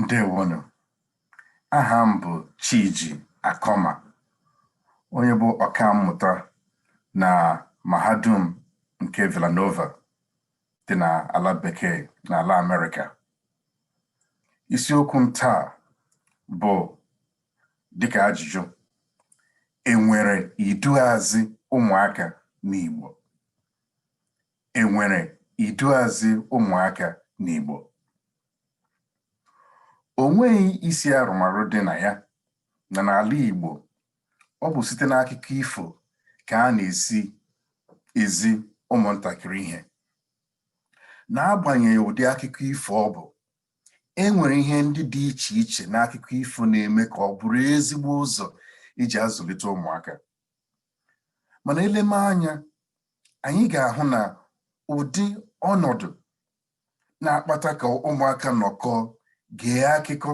Ndewonu. Aha m bụ Chiji Akoma, onye bụ ọkammụta na mahadum nke Villanova dị n'ala bekee n'ala Amerịka. Isiokwu m taa bụ dịka ajụjụ, enwere iduuazị ụmụaka n'Igbo? enwere iduuazị ụmụaka n'Igbo. O nweghị isi arụmarụ dị na ya na n'ala Igbo, ọ bụ site n'akụkọ ifo ka a na-esi ezi ụmụntakịrị ihe. N'agbanyeghị ụdị akụkọ ifo ọ bụ, e nwere ihe ndị dị iche iche n'akụkọ ifo na-eme ka ọ bụrụ ezigbo ụzọ iji azụlite ụmụaka. mana eleme anya anyị ga-ahụ na ụdị ọnọdụ na-akpata ka ụmụaka nọkọọ gee akụkọ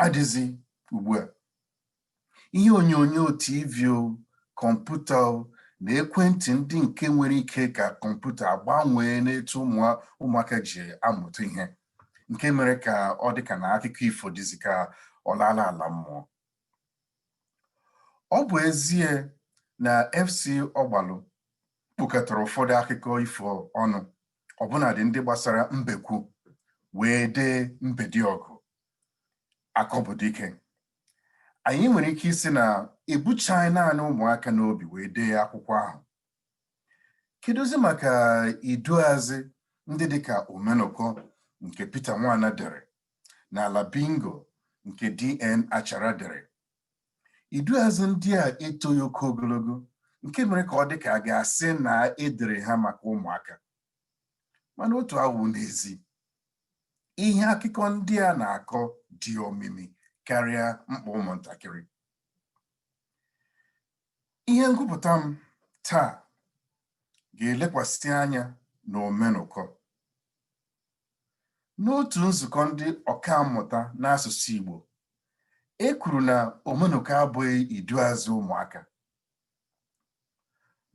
adịzi ugbu a ihe onyonyo tv o kọmputa o na ekwentị ndị nke nwere ike ka kọmputa agbanwee n'etu ụmụaka ji amụta ihe nke mere ka ọ dị ka na akụkọ ifo dịzi ka ọ laala ala mmụọ ọ bụ ezie na FC Ọgbalụ kpụkọtara ụfọdụ akụkọ ifo ọnụ ọbụnadị ndị gbasara mbekwu wee dee Mbediọgụ Akọ bụ Dike anyị nwere ike ịsị na ebuchaghị naanị ụmụaka n'obi wee dee akwụkwọ ahụ kedụzi maka iduazị ndị dịka Omenụkọ nke Pita Nwana dere na Ala Bingo nke DN Achara dere. Iduuazị ndị a etoghị oke ogologo nke mere ka ọ dị ka a ga-asị na e dere ha maka ụmụaka. Mana otu awụ n'ezi. Ihe akụkọ ndị a na-akọ dị omimi karịa mkpa ụmụntakịrị. Ihe ngụpụta m taa ga-elekwasị anya na Omenụkọ. N'otu nzukọ ndị ọkammụta n'asụsụ Igbo, e kwuru na Omenụkọ abụghị iduuazị ụmụaka.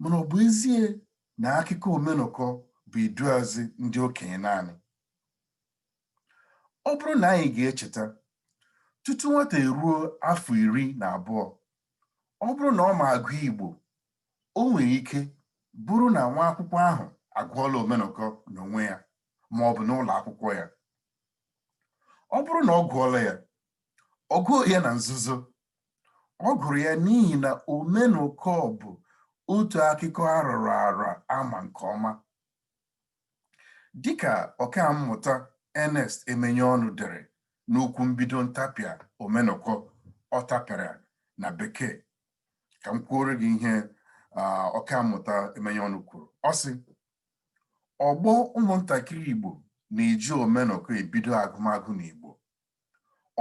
Mana ọ bụ ezie na akụkọ Omenụkọ bụ iduuazị ndị okenye naanị? Ọ bụrụ na anyị ga-echeta, tutu nwata eruo afọ iri na abụọ, ọ bụrụ na ọ ma agụ Igbo o nwere ike bụrụ na nwa akwụkwọ ahụ agụọla omenụkọ n'onwe ya ma ọ bụ n'ụlọ akwụkwọ ya ọ bụrụ na ọ gụọla ya ọ gụghị ya na nzuzo ọ gụrụ ya n'ihi na omenụkọ bụ otu akụkọ arọrọ arọ ama nke ọma dịka ọka mmụta Ernest Emenyọnụ dere n'okwu mbido ntapịa omenụkọ ọ tapịara na bekee ka m kwuoro gị ihe ọka mmụta Emenyọnụ kwuru ọ sị ọgbọ ụmụntakịrị Igbo na-eji omenụkọ ebido agụmagụ n'Igbo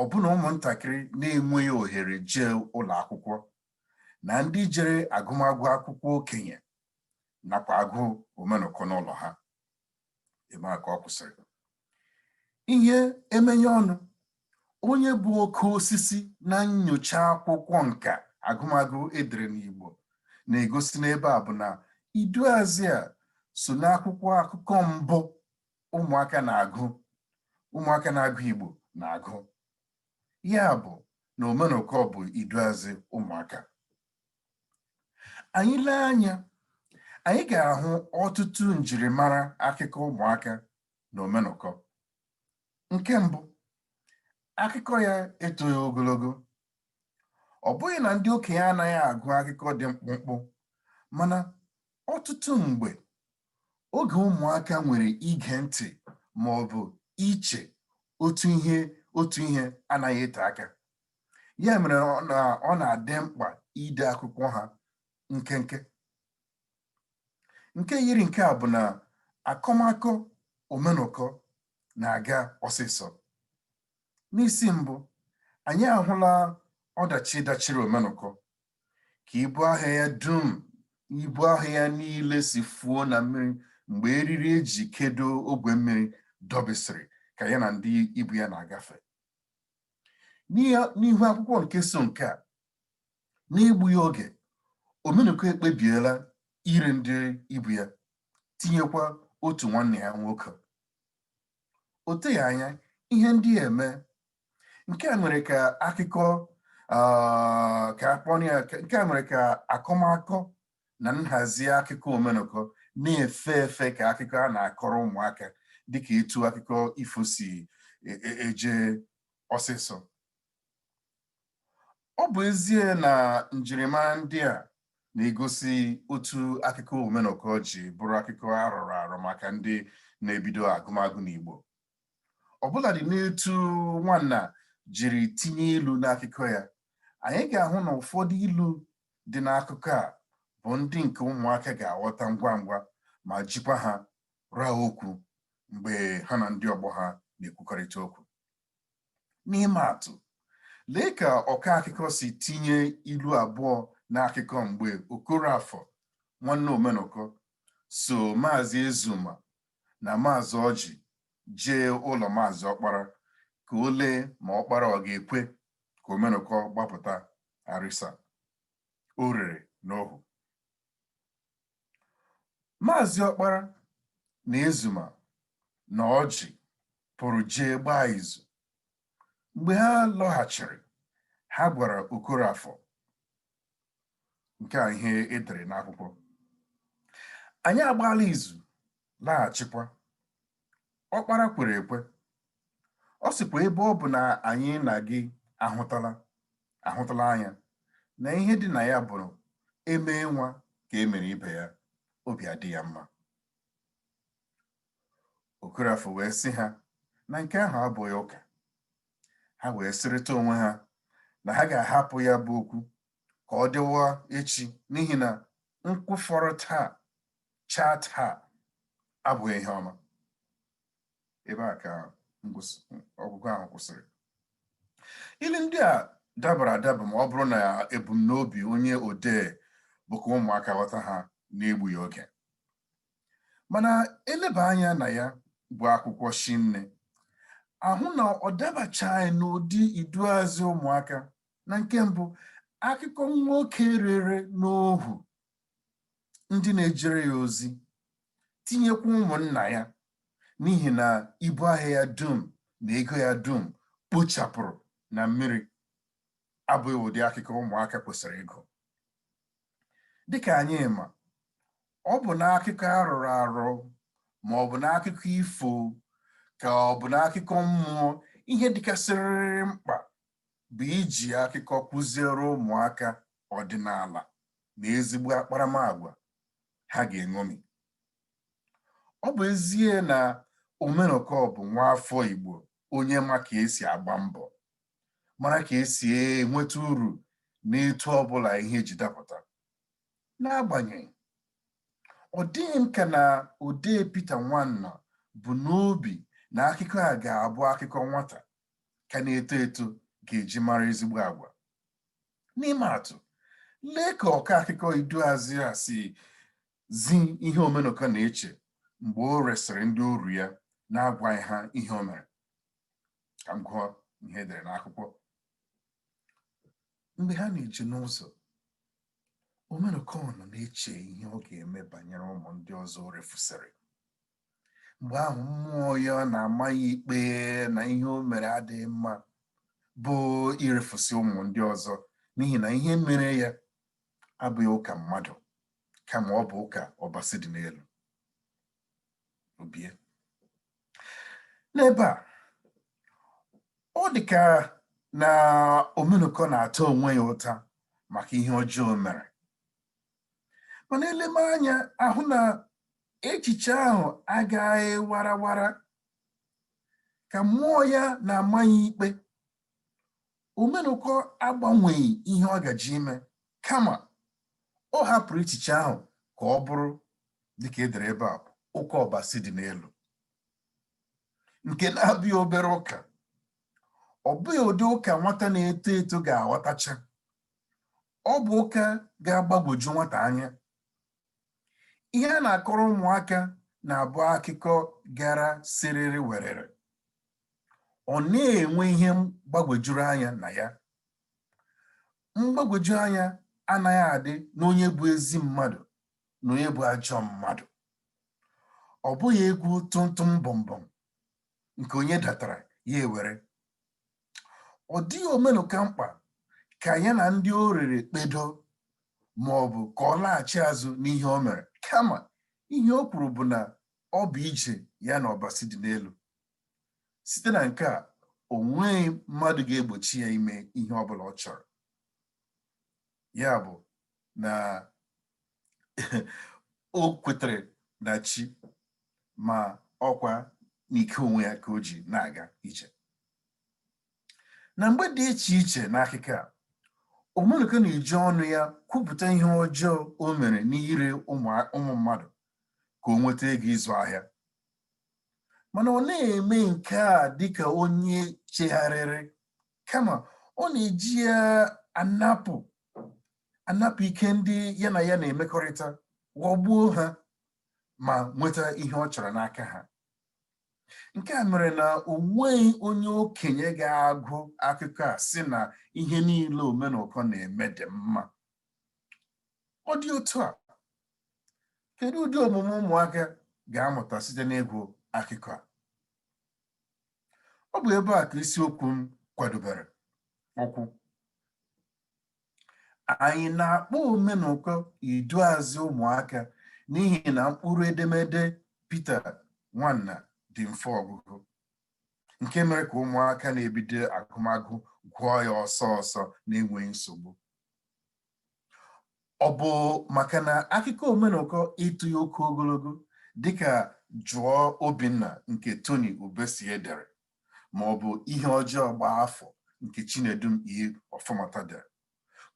ọbụna ụmụntakịrị na-enweghị ohere jee ụlọ akwụkwọ na ndị jere agụmagụ akwụkwọ okenye nakwa agụ omenụkọ n'ụlọ ha ebe a ka ọ kwụsịrị ihe Emenyọnụ onye bụ oke osisi na nnyocha akwụkwọ nka agụmagụ edere n'Igbo na-egosi n'ebe a bụ na iduazị a so n'akwụkwọ akụkọ mbụ ụmụaka na-agụ ụmụaka na-agụ Igbo na-agụ ya bụ na omenụkọ bụ iduazị ụmụaka anyị lee anya anyị ga-ahụ ọtụtụ njirimara akụkọ ụmụaka na omenụkọ nke mbụ akụkọ ya etoghị ogologo ọ bụghị na ndị okenye anaghị agụ akụkọ dị mkpụmkpụ mana ọtụtụ mgbe oge ụmụaka nwere ige ntị ma ọ bụ iche otu ihe otu ihe anaghị ete aka ya mere ọ na-adị mkpa ide akwụkwọ ha nkenke nke yiri nke a bụ na akọmakọ omenụkọ na-aga ọsịsọ n'isi mbụ anyị ahụla ọdachi dachiri omenụkọ ka ibu ahịa ya dum ibu ahịa ya niile si fuo na mmiri mgbe eriri eji kedo ogwe mmiri dọbisiri ka ya na ndị ibu ya na-agafe n'ihu akwụkwọ nke so nke a n'egbughị oge omenụkọ ekpebiela ire ndị ibu ya tinyekwa otu nwanne ya nwoke o teghị anya ihe ndị a emee nke a mere ka akụkọ ka akpọrọ ya nke a mere ka akọmakọ na nhazi akụkọ omenụkọ na-efe efe ka akụkọ a na-akọrọ ụmụaka dịka etu akụkọ ifo si e, e, eje ọsịsọ ọ bụ ezie na njirimara ndị a na-egosi otu akụkọ omenụkọ ji bụrụ akụkọ arọrọ arọ maka ndị na-ebido agụmagụ n'Igbo ọbụladị n'etu Nwana jiri tinye ilu n'akụkọ ya anyị ga-ahụ na ụfọdụ ilu dị n'akụkọ a bụ ndị nke ụmụaka ga-aghọta ngwa ngwa ma jikwa ha rụọ okwu mgbe ha na ndị ọgbọ ha na-ekwukọrịta okwu n'ime atụ lee ka ọka akụkọ si tinye ilu abụọ n'akụkọ mgbe Okorafọ nwanne Omenụkọ so maazị Ezuma na maazị Ọjị jee ụlọ maazị Ọkpara ka o lee ma Ọkpara ọ ga-ekwe ka Omenụkọ gbapụta Arịsa o rere n'ohu maazị Ọkpara na Ezuma na Ọjị pụrụ jee gbaa izu mgbe ha lọghachiri ha gwara Okorafọ nke a ihe e dere n'akwụkwọ anyị agbaala izu laghachikwa. Ọkpara kwere ekwe. Ọ sịkwa ebe ọ bụ na anyị na gị ahụtala ahụtala anya na ihe dị na ya bụ e mee nwa ka e mere ibe ya obi adị ya mma Okorafọ wee sị ha na nke ahụ abụghị ụka ha wee sịrịta onwe ha na ha ga-ahapụ ya bụ okwu ka ọ dịwa echi n'ihi na nkwụ fọrọ taa chaa taa abụghị ihe ọma ebe a ka ọgụgụ ahụ kwụsịrị ilu ndị a dabara adaba ma ọ bụrụ na ebumnobi onye odee bụ ka ụmụaka ghọta ha n'egbughị oge mana e leba anya na ya bụ akwụkwọ shinne a hụ na ọ dabachaghị n'ụdị iduazị ụmụaka na nke mbụ akụkọ nwoke rere n'ohu ndị na-ejere ya ozi tinyekwa ụmụnna ya n'ihi na ibu ahịa ya dum na ego ya dum kpuchapụrụ na mmiri abụghị ụdị akụkọ ụmụaka kwesịrị ịgụ dịka anyị ma ọ bụ n'akụkọ arụrụ arụ ma ọ bụ n'akụkọ ifo ka ọ bụ n'akụkọ mmụọ ihe dịkasịrịrị mkpa bụ iji akụkọ kụziere ụmụaka ọdịnala na ezigbo akparamagwa ha ga-eṅomi ọ bụ ezie na Omenụkọ bụ nwa afọ Igbo onye ma ka e si agba mbọ mara ka e si enweta uru n'etu ọbụla ihe ji dapụta n'agbanyeghị ọ dịghị m ka na odee Pita Nwana bu n'obi na akụkọ a ga-abụ akụkọ nwata ka na-eto eto ga-eji mara ezigbo agwa n'ime atụ lee ka ọkọ akụkọ iduazị a si zi ihe omenụkọ na-eche mgbe o resịrị ndị oru ya n'agwaghị ha ihe o mere ka m gụọ ihe e dere n'akwụkwọ mgbe ha na-eje n'ụzọ omenụkọ nọ na-eche ihe ọ ga-eme banyere ụmụ ndị ọzọ o refusịrị mgbe ahụ mmụọ ya na-ama ya ikpe na ihe o mere adịghị mma bụ irefusị ụmụ ndị ọzọ n'ihi na ihe mere ya abụghị ụka mmadụ kama ọ bụ ụka ọbasi dị n'elu o bie n'ebe a ọ dị ka na omenụkọ na-ata onwe ya ụta maka ihe ọjọọ o mere mana e leme anya a hụ na echiche ahụ agaghị warawara ka mmụọ ya na-ama ya ikpe omenụkọ agbanweghị ihe ọ gaji ime kama ọ hapụrụ echiche ahụ ka ọ bụrụ dịka e dere ebe a ụka ọbasi dị n'elu nke na-abụghị obere ụka ọ bụghị ụdị ụka nwata na-eto eto ga-aghọtacha ọ bụ ụka ga-agbagwoju nwata anya ihe a na-akọrọ ụmụaka na-abụ akụkọ gara siriri werere ọ naghị enwe ihe gbagwojuru anya na ya mgbagwoju anya anaghị adị n'onye bụ ezi mmadụ na onye bụ ajọ mmadụ ọ bụghị egwu tụmtụm bọmbọm nke onye datara ya ewere ọ dịghị omenụkọ mkpa ka ya na ndị o rere kpedo ma ọ bụ ka ọ laghachi azụ n'ihe o mere kama ihe o kwuru bụ na ọ bụ ije ya na ọbasi dị n'elu site na nke a o nweghị mmadụ ga-egbochi ya ime ihe ọ bụla ọ chọrọ ya bụ na o kwetere na chi ma ọkwa n'ike onwe ya ka o ji na-aga ije na mgbe dị iche iche n'akụkọ a omenụkọ na-eji ọnụ ya kwupụta ihe ọjọọ o mere n'ire ụmụ mmadụ ka o nweta ego ịzụ ahịa mana ọ naghị eme nke a dịka onye chegharịrị kama ọ na-eji ya anapụ anapụ ike ndị ya na ya na-emekọrịta ghọgbuo ha ma nweta ihe ọ chọrọ n'aka ha nke a mere na o nweghị onye okenye ga-agụ akụkọ a sị na ihe niile Omenụkọ na-eme dị mma ọ dị otu a kedu ụdị omume ụmụaka ga-amụta site n'ịgụ akụkọ a ọ bụ ebe a ka isiokwu m kwadobere ụkwụ anyị na-akpọ Omenụkọ iduazị ụmụaka n'ihi na mkpụrụ edemede Pita Nwana dị mfe ọgụgụ nke mere ka ụmụaka na-ebido agụmagụ gụọ ya ọsọ ọsọ na-enweghị nsogbu ọ bụ maka na akụkọ Omenụkọ etoghị oke ogologo dịka Jụọ Obinna nke Tony Ubesie dere ma ọ bụ ihe ọjọọ gbaa afọ nke Chinedum E. Ọfọmata dere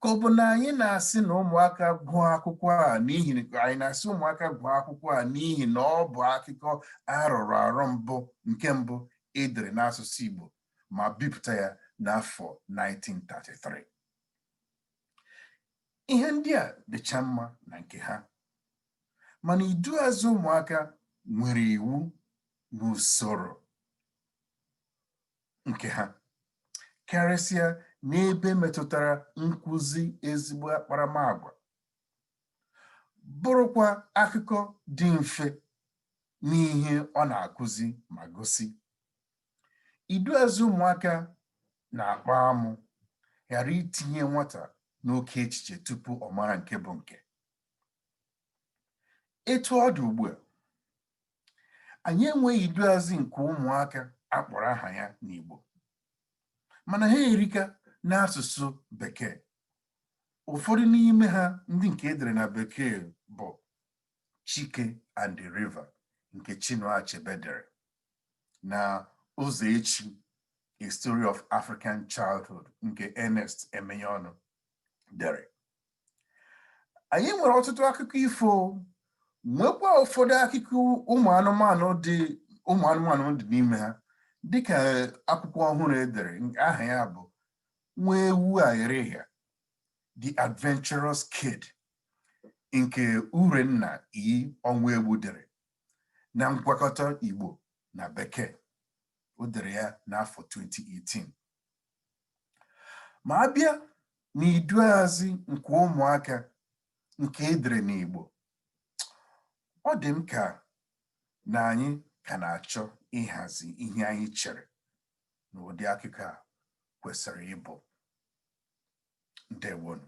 ka ọ bụ na anyị na-asị na ụmụaka gụọ akwụkwọ a n'ihi anyị na-asị ụmụaka gụọ akwụkwọ a n'ihi na ọ bụ akụkọ arọrọ arọ mbụ nke mbụ edere n'asụsụ Igbo ma bipụta ya n'afọ 1933 ihe ndị a dịcha mma na nke ha mana iduuazị ụmụaka nwere iwu na usoro nke ha karịsịa n'ebe metụtara nkụzi ezigbo akparamagwa bụrụkwa akụkọ dị mfe n'ihe ọ na-akụzi ma gosi iduuazị ụmụaka na-akpa amụ ghara itinye nwata n'oke echiche tupu ọ mara nke bụ nke etu ọ dị ugbu a anyị enweghị iduazị nke ụmụaka akpọrọ aha ya n'Igbo mana ha erika n'asụsụ bekee ụfọdụ n'ime ha ndị nke edere na bekee bụ Chike and the River nke Chinua Achebe dere na Ụzọechi A Story of African Childhood nke Ernest Emenyọnụ dere anyị nwere ọtụtụ akụkọ ifo nwekwa ụfọdụ akụkọ ụmụ anụmanụ dị ụmụ anụmanụ dị n'ime ha dịka akwụkwọ ọhụrụ edere aha ya bụ nwa ewu aghịrịghịa The Adventurous Kid nke Urenna E. Ọnwụegbu dere na ngwakọta Igbo na Bekee o dere ya n'afọ 2018 ma a bịa n'iduazị nke ụmụaka nke edere n'Igbo ọ dị m ka na anyị ka na-achọ ịhazi ihe anyị chere na ụdị akụkọ a kwesịrị ịbụ ndewonu